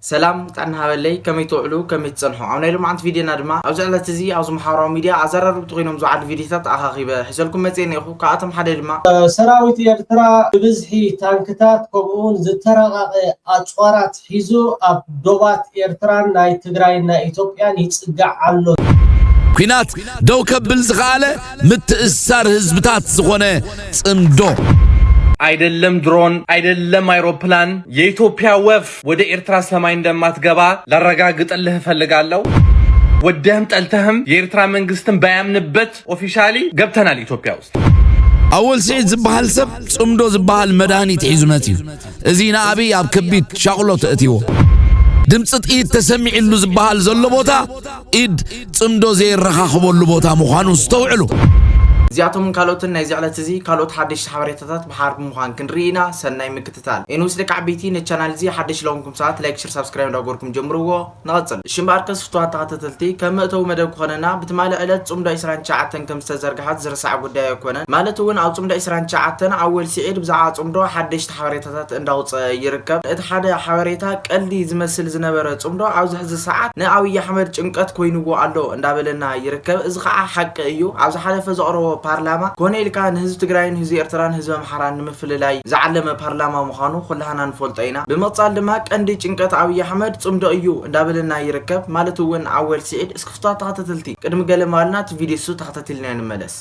ሰላም ጥዕና ሃበለይ ከመይ ትውዕሉ ከመይ ትጸንሑ ኣብ ናይ ሎምዓንቲ ቪድዮና ድማ ኣብዚ ዕለት እዚ ኣብዚ ማሓበራዊ ሚድያ ኣዛራርብቲ ኮይኖም ዝውዓሉ ቪድዮታት ኣኻኺበ ሒዘልኩም መጽየ ኔርኩ ካብኣቶም ሓደ ድማ ሰራዊት ኤርትራ ብብዝሒ ታንክታት ከምኡውን ዝተራቐቐ ኣጽዋራት ሒዙ ኣብ ዶባት ኤርትራን ናይ ትግራይን ናይ ኢትዮጵያን ይጽጋዕ ኣሎ። ኲናት ደው ከብል ዝኸኣለ ምትእስሳር ህዝብታት ዝኾነ ጽምዶ። ኣይደለም ድሮን ኣይደለም ኣይሮፕላን የኢትዮጵያ ወፍ ወደ ኤርትራ ሰማይ እንደማትገባ ላረጋግጥልህ እፈልጋለሁ። ወደህም ጠልተህም የኤርትራ መንግስትም ባያምንበት ኦፊሻሊ ገብተናል ኢትዮጵያ ውስጥ። ኣወል ስዒድ ዝበሃል ሰብ ጽምዶ ዝበሃል መድሃኒት ሒዙ መጺኡ እዚ ንኣብይ ኣብ ከቢድ ሻቕሎ ተእትዎ ድምፂ ጥይት ተሰሚዕሉ ዝበሃል ዘሎ ቦታ ኢድ ጽምዶ ዘየረኻኽበሉ ቦታ ምዃኑ ዝተውዕሉ እዚኣቶምን ካልኦትን ናይዚ ዕለት እዚ ካልኦት ሓደሽቲ ሓበሬታታት ብሓባር ብምዃን ክንርኢ ኢና ሰናይ ምክትታል ምክትታል ኣይንወስደካ ዓበይቲ ነቲ ቻናል እዚ ሓደሽቲ ለኮንኩም ሰባት ላይክ ሽር ሳብስክራይብ እንዳገበርኩም ጀምርዎ ንቀጽል እሺ እምበኣርከስ ፍትዋት ተከተተልቲ ከም መእተዊ መደብ ክኮነና ብትማሊ ዕለት ጽምዶ ዕስራን ትሽዓተን ከም ዝተዘርግሓት ዝርሳዕ ጉዳይ ኣይኮነን ማለት ውን ኣብ ጽምዶ ዕስራን ትሽዓተን ኣወል ሲዒድ ብዛዕባ ጽምዶ ሓደሽቲ ሓበሬታታት እንዳውጸ ይርከብ እቲ ሓደ ሓበሬታ ቀልዲ ዝመስል ዝነበረ ጽምዶ ኣብዚ ሕዚ ሰዓት ን ኣብይ ኣሕመድ ጭንቀት ኮይንዎ ኣሎ እንዳበለና ይርከብ እዚ ከኣ ሓቂ እዩ ኣብ ዝሓለፈ ዘቅረቦ ፓርላማ ኮነ ኢልካ ንህዝቢ ትግራይን ህዝቢ ኤርትራን ህዝቢ ኣምሓራን ንምፍልላይ ዝዓለመ ፓርላማ ምዃኑ ኩላህና ንፈልጦ ኢና። ብምቕጻል ድማ ቀንዲ ጭንቀት ኣብይ ኣሕመድ ጽምዶ እዩ እንዳበለና ይርከብ ማለት እውን ኣወል ሲዒድ እስኪ ክፍትዋት ተኸታተልቲ ቅድሚ ገለ መዋልና እቲ ቪድዮ እሱ ተኸታቲልና ንምለስ።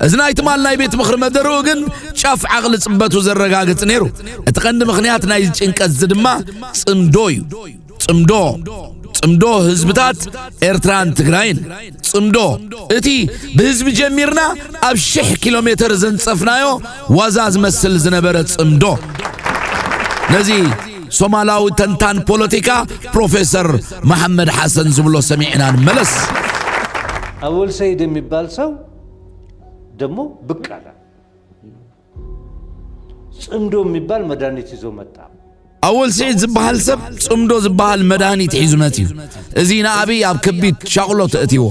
እዚ ናይ ትማል ናይ ቤት ምኽሪ መደርኡ ግን ጫፍ ዓቕሊ ጽበቱ ዘረጋግጽ ነይሩ። እቲ ቀንዲ ምኽንያት ናይዚ ጭንቀት እዚ ድማ ጽምዶ እዩ። ጽምዶ ጽምዶ ህዝብታት ኤርትራን ትግራይን ጽምዶ እቲ ብህዝቢ ጀሚርና ኣብ ሽሕ ኪሎ ሜተር ዘንጸፍናዮ ዋዛ ዝመስል ዝነበረ ጽምዶ ነዚ ሶማላዊ ተንታን ፖለቲካ ፕሮፌሰር መሐመድ ሓሰን ዝብሎ ሰሚዕና ንመለስ። አወል ሰይድ የሚባል ሰው ደግሞ ብቅ አለ። ፅምዶ የሚባል መድኃኒት ይዞ መጣ። ኣወል ስዒድ ዝበሃል ሰብ ጽምዶ ዝበሃል መድሃኒት ሒዙ መጺኡ እዚ ንኣብይ ኣብ ከቢድ ሻቕሎ ተእትዎ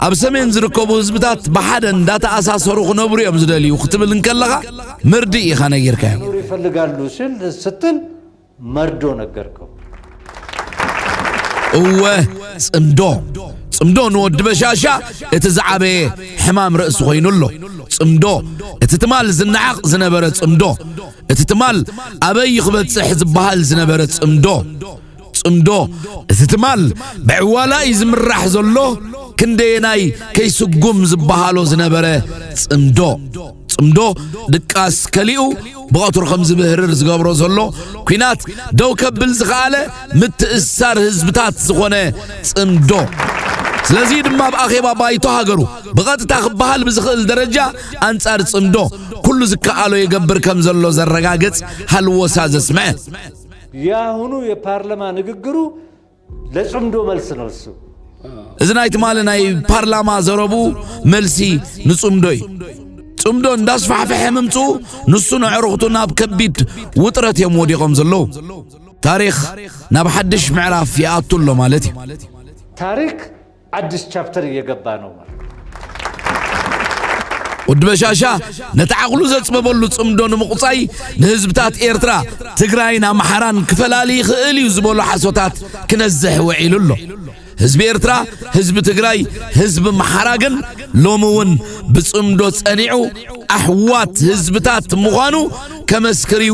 ኣብ ሰሜን ዝርከቡ ህዝብታት ብሓደ እንዳተኣሳሰሩ ክነብሩ እዮም ዝደልዩ ክትብል እንከለኻ ምርድእ ኢኻ ነጊርካዮ ይፈልጋሉ ስል ስትል መርዶ ነገርኩም። እወ ጽምዶ ጽምዶ ንወዲ በሻሻ እቲ ዝዓበየ ሕማም ርእሲ ኮይኑ ኣሎ። ጽምዶ እቲ ትማል ዝነዓቕ ዝነበረ ጽምዶ እቲ ትማል ኣበይ ክበጽሕ ዝበሃል ዝነበረ ጽምዶ ጽምዶ እቲ ትማል ብዕዋላ እዩ ዝምራሕ ዘሎ ክንደየናይ ከይስጉም ዝበሃሎ ዝነበረ ጽምዶ ጽምዶ ድቃስ ከሊኡ ብቐትሩ ከም ዝብህርር ዝገብሮ ዘሎ ኲናት ደው ከብል ዝኸኣለ ምትእስሳር ህዝብታት ዝኾነ ጽምዶ ስለዚ ድማ ኣብ ኣኼባ ባይቶ ሃገሩ ብቐጥታ ክበሃል ብዝኽእል ደረጃ ኣንጻር ጽምዶ ኩሉ ዝከኣሎ ይገብር ከም ዘሎ ዘረጋግጽ ሃልዎሳ ዘስምዐ የአሁኑ የፓርለማ ንግግሩ ለጽምዶ መልሲ ነሱ እዚ ናይ ትማሊ ናይ ፓርላማ ዘረቡ መልሲ ንጽምዶ እዩ። ጽምዶ እንዳስፋሕፈሐ ምምጽኡ ንሱ ንዕሩኽቱ ናብ ከቢድ ውጥረት እዮም ወዲቖም ዘለዉ። ታሪኽ ናብ ሓድሽ ምዕራፍ ይኣቱ ኣሎ ማለት እዩ። ታሪክ ኣዲስ ቻፕተር እየገባ ነው ማለት ወዲ በሻሻ ነቲ ዓቕሉ ዘጽበበሉ ጽምዶ ንምቑጻይ ንህዝብታት ኤርትራ ትግራይን ኣምሓራን ክፈላሊ ይኽእል እዩ ዝበሎ ሓሶታት ክነዝሕ ውዒሉ ኣሎ ህዝቢ ኤርትራ ህዝቢ ትግራይ ህዝቢ ኣምሓራ ግን ሎሚ እውን ብጽምዶ ጸኒዑ ኣሕዋት ህዝብታት ምዃኑ ከመስክር እዩ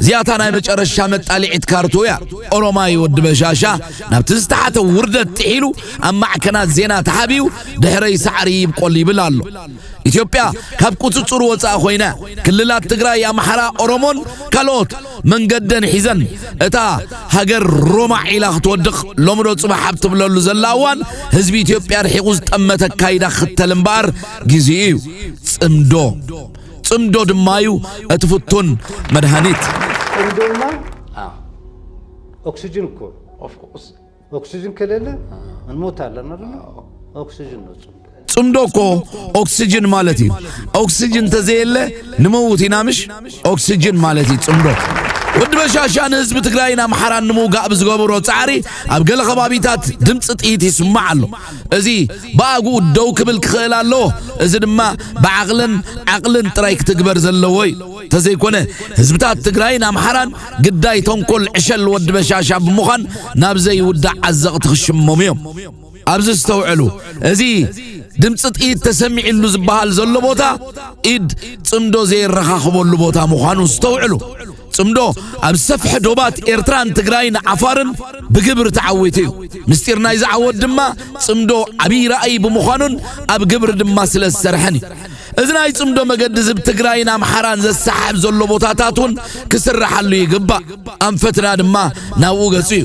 እዚኣ እታ ናይ መጨረሻ መጣሊዒት ካርቱ እያ። ኦሮማይ ወዲ በሻሻ ናብቲ ዝተሓተ ውርደት ጥሒሉ ኣብ ማዕከናት ዜና ተሓቢኡ ድሕረይ ሳዕሪ ይብቆል ይብል ኣሎ። ኢትዮጵያ ካብ ቁፅፅሩ ወፃእ ኮይነ ክልላት ትግራይ ኣምሓራ ኦሮሞን ካልኦት መንገደን ሒዘን እታ ሃገር ሮማ ዒላ ክትወድቕ ሎምዶ ፅባሕ ኣብ ትብለሉ ዘላ እዋን ህዝቢ ኢትዮጵያ ርሒቑ ዝጠመተ ኣካይዳ ክኽተል እምበኣር ግዜኡ እዩ ፅምዶ ጽምዶ ድማ እዩ እቲ ፍቱን መድሃኒት። ጽምዶና ኦክስጅን እኮ ኦክስጅን ከሌለ እንሞታለን አይደለ? ኦክስጅን ነው ጽምዶ። ጽምዶ እኮ ኦክስጅን ማለት እዩ። ኦክስጅን ተዘየለ ንመውት ኢና ምሽ ኦክስጅን ማለት እዩ ጽምዶ። ወዲ በሻሻ ንህዝቢ ትግራይን ኣምሓራን ንምውጋእ ብዝገበሮ ጻዕሪ ኣብ ገለ ከባቢታት ድምፂ ጥይት ይስማዕ ኣሎ እዚ ብኣግኡ ደው ክብል ክኽእል ኣለዎ። እዚ ድማ ብዓቕልን ዓቕልን ጥራይ ክትግበር ዘለዎ እዩ። ተዘይኮነ ህዝብታት ትግራይን ኣምሓራን ግዳይ ተንኮል ዕሸል ወዲ በሻሻ ብምዃን ናብ ዘይውዳእ ዓዘቕቲ ክሽመሙ እዮም። ኣብዚ ኣስተውዕሉ፣ እዚ ድምፂ ጥይት ተሰሚዕሉ ዝበሃል ዘሎ ቦታ ኢድ ፅምዶ ዘየረኻኽበሉ ቦታ ምዃኑ ኣስተውዕሉ። ጽምዶ ኣብ ዝሰፍሐ ዶባት ኤርትራን ትግራይን ዓፋርን ብግብሪ ተዓዊቱ እዩ። ምስጢር ናይዚ ዓወት ድማ ጽምዶ ዓብዪ ራእይ ብምዃኑን ኣብ ግብሪ ድማ ስለ ዝሰርሐን እዩ። እዚ ናይ ጽምዶ መገዲ ዝብ ትግራይን ኣምሓራን ዘሰሓሕብ ዘሎ ቦታታት እውን ክስራሓሉ ይግባእ። ኣንፈትና ድማ ናብኡ ገጹ እዩ።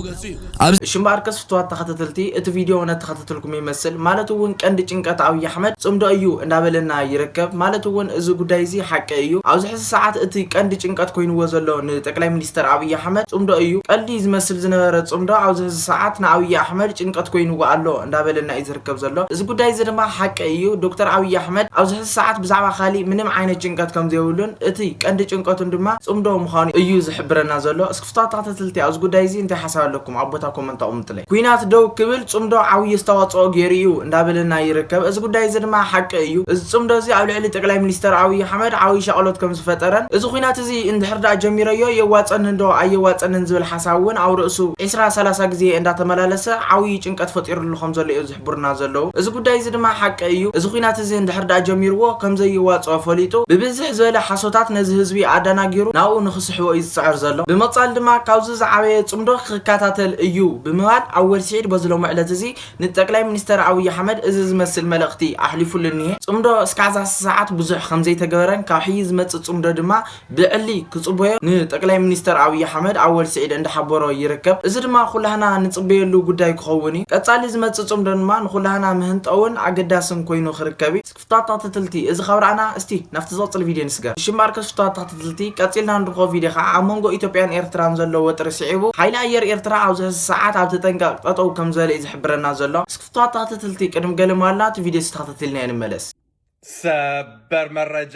ኣብዚ። እሺ እምበኣርከስ ፍቱዋት ተኸተተልቲ እቲ ቪድዮ እውነተኸተተልኩም ይመስል ማለት እውን ቀንዲ ጭንቀት ኣብይ ኣሕመድ ፅምዶ እዩ እንዳበለና ይርከብ ማለት እውን እዚ ጉዳይ እዚ ሓቂ እዩ ኣብዚ ሕዚ ሰዓት እቲ ቀንዲ ጭንቀት ኮይንዎ ዘሎ ንጠቅላይ ሚኒስተር ኣብይ ኣሕመድ ፅምዶ እዩ ቀልዲ ዝመስል ዝነበረ ፅምዶ ኣብዚ ሕዚ ሰዓት ንኣብይ ኣሕመድ ጭንቀት ኮይንዎ ኣሎ እንዳበለና እዩ ዝርከብ ዘሎ እዚ ጉዳይ እዚ ድማ ሓቂ እዩ ዶክተር ኣብይ ኣሕመድ ኣብዚ ሕዚ ሰዓት ብዛዕባ ካሊእ ምንም ዓይነት ጭንቀት ከምዘይብሉን እቲ ቀንዲ ጭንቀቱን ድማ ፅምዶ ምዃኑ እዩ ዝሕብረና ዘሎ እስኪ ፉታታተትልቲ ኣብዚ ጉዳይ እዚ እንታይ ሓሳብ ኣለኩም ኣብ ቦታ ኮመንት ኣቁምጥለይ። ኩናት ደው ክብል ጽምዶ ዓብይ ኣስተዋጽኦ ጌሩ እዩ እንዳበለና ይርከብ እዚ ጉዳይ እዚ ድማ ሓቂ እዩ እዚ ጽምዶ እዚ ኣብ ልዕሊ ጠቅላይ ሚኒስተር ኣብይ ኣሕመድ ዓብይ ሻቅሎት ከም ዝፈጠረን እዚ ኩናት እዚ እንድሕር ደኣ ጀሚረዮ የዋጸኒ ዶ ኣየዋጸንን ዝብል ሓሳብ ውን ኣብ ርእሱ ዕስራ ሰላሳ ግዜ እንዳተመላለሰ ዓብይ ጭንቀት ፈጢርሉ ከም ዘሎ እዩ ዝሕቡሩና ዘለዉ። እዚ ጉዳይ እዚ ድማ ሓቂ እዩ። እዚ ኹናት እዚ እንድሕር ድኣ ጀሚርዎ ከም ዘየዋጽኦ ፈሊጡ ብብዝሕ ዝበለ ሓሶታት ነዚ ህዝቢ ኣዳናጊሩ ናብኡ ንኽስሕቦ እዩ ዝጽዕር ዘሎ። ብምቕጻል ድማ ካብዚ ዝዓበየ ጽምዶ ክከታተል እዩ ብምባል ኣወል ስዒድ በዚ ሎሚ ዕለት እዚ ንጠቅላይ ሚኒስተር ኣብይ ኣሕመድ እዚ ዝመስል መልእኽቲ ኣሕሊፉሉ እኒሀ። ጽምዶ እስካዕ ዛስ ሰዓት ብዙሕ ከም ዘይተገበረን ካብ ሕዪ ዝመጽእ ጽምዶ ድማ ብዕሊ ክጽበዮ ንጠቅላይ ሚኒስተር ኣብይ ኣሕመድ ኣወል ስዒድ እንዳሓበሮ ይርከብ። እዚ ድማ ኩላህና ንጽበየሉ ጉዳይ ክኸውን እዩ። ቀጻሊ ዝመጽእ ጽምዶ ድማ ንኹላህና መህንጠውን ኣገዳስን ኮይኑ ክርከብ እዩ። ፍትዋት ተክትትልቲ እዚ ካብ ረኣና እስቲ ናብቲ ዝቅጽል ቪድዮ ንስገር። ንሽማርከስ ፍትዋት ተክትትልቲ ቀጺልና ንርኽቦ ቪድዮ ከኣ ኣብ መንጎ ኢትዮጵያን ኤርትራን ዘሎ ወጥሪ ስዒቡ ሓይሊ ኣየር ኤርትራ ኣብዚ ሕዚ ሰዓት ኣብ ተጠንቀቅ ጠጠው ከምዘለ እዩ ዝሕብረና ዘሎ። እስኪ ፍትዋት ተክትትልቲ ቅድም ገለ ማልና እቲ ቪድዮ እዚ ተክትትልናዮ ንመለስ። ሰበር መረጃ!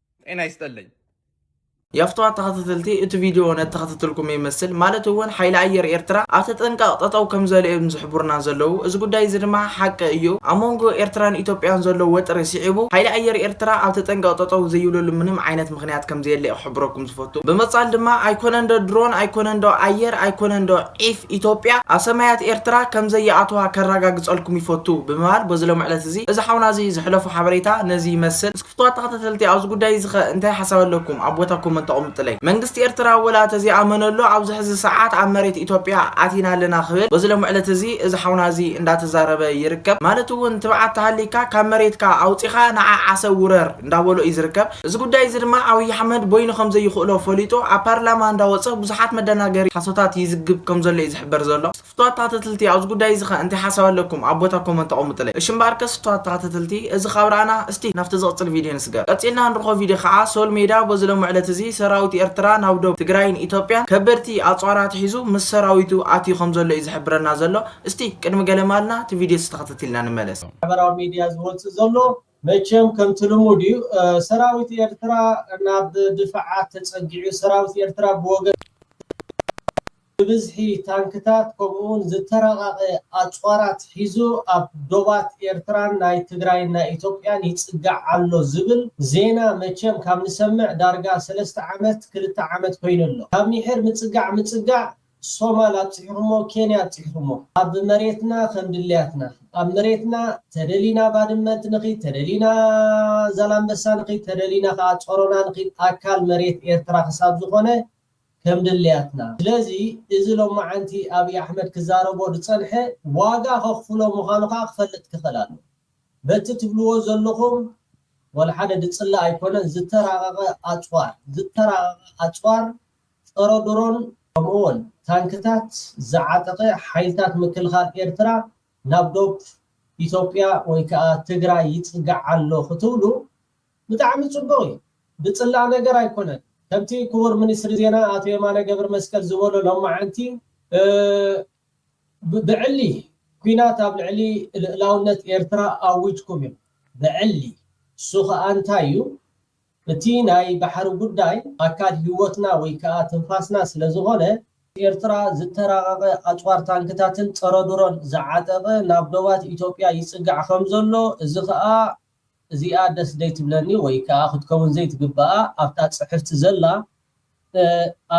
ጤና ይስጠለኝ። የፍትዋ ተኸታተልቲ እቲ ቪድዮ ነተኸታተልኩም ይመስል ማለት እውን ሓይሊ ኣየር ኤርትራ ኣብ ተጠንቀቕ ጠጠው ከምዘለ እዮም ዝሕብሩና ዘለዉ እዚ ጉዳይ እዚ ድማ ሓቂ እዩ ኣብ መንጎ ኤርትራን ኢትዮጵያን ዘሎ ወጥሪ ስዒቡ ሓይሊ ኣየር ኤርትራ ኣብ ተጠንቀቕ ጠጠው ዘይብለሉ ምንም ዓይነት ምክንያት ከምዘየለ እዩ ክሕብረኩም ዝፈቱ ብምጻል ድማ ኣይኮነን ዶ ድሮን ኣይኮነን ዶ ኣየር ኣይኮነን ዶ ዒፍ ኢትዮጵያ ኣብ ሰማያት ኤርትራ ከምዘይኣተዋ ከረጋግጸልኩም ይፈቱ ብምባል በዚ ሎሚ ዕለት እዚ እዚ ሓውና እዚ ዝሕለፉ ሓበሬታ ነዚ ይመስል ፍቱዋት ተኸታተልቲ ኣብዚ ጉዳይ እዚ ከ እንታይ ሓሳብ ኣለኩም ኣብ ቦታ ኮመንት ኣቁምጥለይ። መንግስቲ ኤርትራ ወላ ተዘይኣመነሉ ኣብዚ ሕዚ ሰዓት ኣብ መሬት ኢትዮጵያ ኣቲና ኣለና ክብል በዚ ሎምዕለት እዚ እዚ ሓውና እዚ እንዳተዛረበ ይርከብ ማለት እውን ትብዓት ተሃሊካ ካብ መሬትካ ኣውጺኻ ንዓ ዓሰብ ውረር እንዳበሎ እዩ ዝርከብ እዚ ጉዳይ እዚ ድማ ኣብይ ኣሕመድ ቦይኑ ከምዘይኽእሎ ፈሊጡ ኣብ ፓርላማ እንዳወጸ ብዙሓት መደናገሪ ሓሶታት ይዝግብ ከምዘሎ እዩ ዝሕበር ዘሎ። ሽቶ ኣታተትልቲ ኣብዚ ጉዳይ እዚ ከ እንታይ ሓሳብ ኣለኩም ኣብ ቦታ ኮመንት ኣቁሙጥለይ እሺ እምበኣርከ ስቶ ኣታተትልቲ እዚ ካብ ረኣና እስቲ ናብቲ ዝቅጽል ቪድዮ ንስገር ቀጺልና ንርኮ ቪድዮ ከኣ ሶል ሜዳ በዚ ሎሚ ዕለት እዚ ሰራዊት ኤርትራ ናብ ዶብ ትግራይን ኢትዮጵያን ከበድቲ ኣጽዋር ኣትሒዙ ምስ ሰራዊቱ ኣትዩ ከም ዘሎ እዩ ዝሕብረና ዘሎ እስቲ ቅድሚ ገለ ማልና እቲ ቪድዮ እዚ ተከተቲልና ንመለስ። ማሕበራዊ ሚድያ ዝወጽእ ዘሎ መቸም ከምቲ ልሙድ እዩ ሰራዊት ኤርትራ ናብ ድፋዓት ተጸጊዑ ሰራዊት ኤርትራ ብወገን ብብዝሒ ታንክታት ከምኡውን ዝተራቐቐ ኣጽዋራት ሒዙ ኣብ ዶባት ኤርትራን ናይ ትግራይን ናይ ኢትዮጵያን ይጽጋዕ ኣሎ ዝብል ዜና መቸም ካብ ንሰምዕ ዳርጋ ሰለስተ ዓመት ክልተ ዓመት ኮይኑ ኣሎ ካብ ሚሒር ምጽጋዕ ምጽጋዕ ሶማል ኣብጺሕኹሞ ኬንያ ኣብጺሕኹሞ ኣብ መሬትና ከምድልያትና ኣብ መሬትና ተደሊና ባድመ ንኺድ ተደሊና ዛላምበሳ ንኺድ ተደሊና ከኣ ጾሮና ንኺድ ኣካል መሬት ኤርትራ ክሳብ ዝኾነ ከምድልያትና ስለዚ እዚ ሎማዓንቲ ኣብይ ኣሕመድ ክዛረቦ ድጸንሐ ዋጋ ከኽፍሎ ምኻኑ ከኣ ክፈልጥ ክኽእል ኣለዎ በቲ ትብልዎ ዘልኹም ወልሓደ ድጽላእ ኣይኮነን ዝተራቐቐ ኣጽዋር ዝተራቐቐ ኣጽዋር ጸረ ድሮን ከምኡ'ውን ታንክታት ዝዓጠቐ ሓይልታት ምክልኻል ኤርትራ ናብ ዶብ ኢትዮጵያ ወይ ከኣ ትግራይ ይጽጋዕ ኣሎ ክትብሉ ብጣዕሚ ጽቡቕ እዩ። ዝጽላእ ነገር ኣይኮነን። ከምቲ ክቡር ሚኒስትሪ ዜና ኣቶ የማነ ገብርመስቀል ዝበሎ ሎማዓንቲ ብዕሊ ኩናት ኣብ ልዕሊ ልእላውነት ኤርትራ ኣዊጅኩም ኢኹም። ብዕሊ። እሱ ከኣ እንታይ እዩ? እቲ ናይ ባሕሪ ጉዳይ ኣካል ህይወትና ወይ ከኣ ትንፋስና ስለዝኾነ፣ ኤርትራ ዝተራቐቐ ኣጽዋር ታንክታትን ጸረ-ድሮን ዝዓጠቐ ናብ ዶባት ኢትዮጵያ ይጽጋዕ ከምዘሎ፣ እዚ ከኣ እዚኣ ደስ ዘይትብለኒ ወይ ከኣ ክትከውን ዘይትግበኣ ኣብታ ጽሕፍቲ ዘላ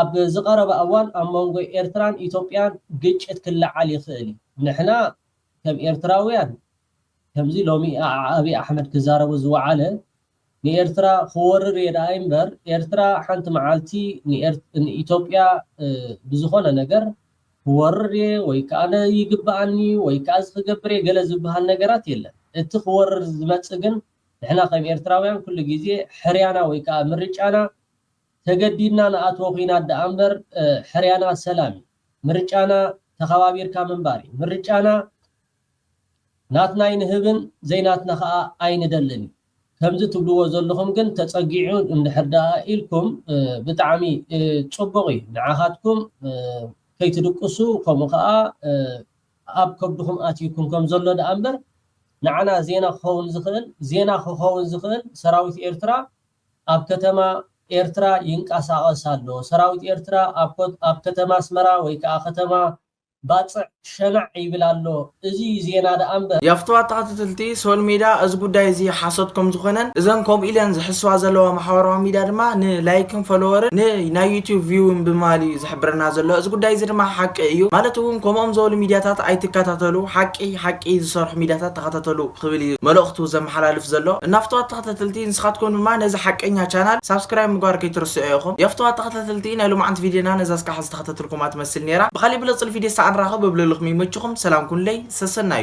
ኣብ ዝቐረበ ኣዋን ኣብ መንጎ ኤርትራን ኢትዮጵያን ግጭት ክለዓል ይኽእል እዩ። ንሕና ከም ኤርትራውያን ከምዚ ሎሚ ኣብይ ኣሕመድ ክዛረቦ ዝወዓለ ንኤርትራ ክወርር እየ ደኣ እምበር ኤርትራ ሓንቲ መዓልቲ ንኢትዮጵያ ብዝኾነ ነገር ክወርር እየ ወይ ከኣ ይግበኣኒ እዩ ወይ ከኣ እዚ ክገብር እየ ገለ ዝበሃል ነገራት የለን። እቲ ክወርር ዝመጽእ ግን ንሕና ከም ኤርትራውያን ኩሉ ግዜ ሕርያና ወይ ከኣ ምርጫና ተገዲድና ንኣትዎ ኲናት ደኣ እምበር ሕርያና ሰላም እዩ። ምርጫና ተኸባቢርካ ምንባር እዩ። ምርጫና ናትና ኣይንህብን ዘይናትና ከኣ ኣይንደልን እዩ ከምዚ ትብልዎ ዘለኹም ግን ተጸጊዑ እንድሕር ደኣ ኢልኩም ብጣዕሚ ጽቡቕ እዩ ንዓኻትኩም ከይትድቅሱ ከምኡ ከኣ ኣብ ከብድኹም ኣትዩኩም ከም ዘሎ ደኣ እምበር ንዓና ዜና ክኸውን ዝኽእል ዜና ክኸውን ዝኽእል ሰራዊት ኤርትራ ኣብ ከተማ ኤርትራ ይንቀሳቐስ ኣሎ ሰራዊት ኤርትራ ኣብ ከተማ ኣስመራ ወይ ከኣ ከተማ ባጽዕ ሸናዕ ይብል ኣሎ እዚ ዜና ደኣ እምበር። የፍትዋ ተኸታተልቲ ሶል ሜዳ እዚ ጉዳይ እዚ ሓሶት ከም ዝኾነን እዘን ከምኡ ኢለን ዝሕስዋ ዘለዋ ማሕበራዊ ሚድያ ድማ ን ላይክን ፎሎወርን ን ናይ ዩቱብ ቪውን ብምባል እዩ ዝሕብረና ዘሎ እዚ ጉዳይ እዚ ድማ ሓቂ እዩ ማለት እውን ከምኦም ዘበሉ ሚድያታት ኣይትከታተሉ ሓቂ ሓቂ ዝሰርሑ ሚድያታት ተኸታተሉ ክብል እዩ መልእኽቱ ዘመሓላልፍ ዘሎ እና ፍትዋት ተኸታተልቲ ንስኻትኩም ድማ ነዚ ሓቀኛ ቻናል ሳብስክራይብ ምግባር ከይትርስዑ ኢኹም የፍትዋ ተኸታተልቲ ናይ ሎማዓንቲ ቪድዮና ነዛ እስካዕ ከተትልኩማ ትመስል ኔራ ብካሊእ ብለጽ ን ፊዴሳ ኣንራከብ እብለልኩም ይመችኩም ሰላም ኩንለይ ሰሰናዩ።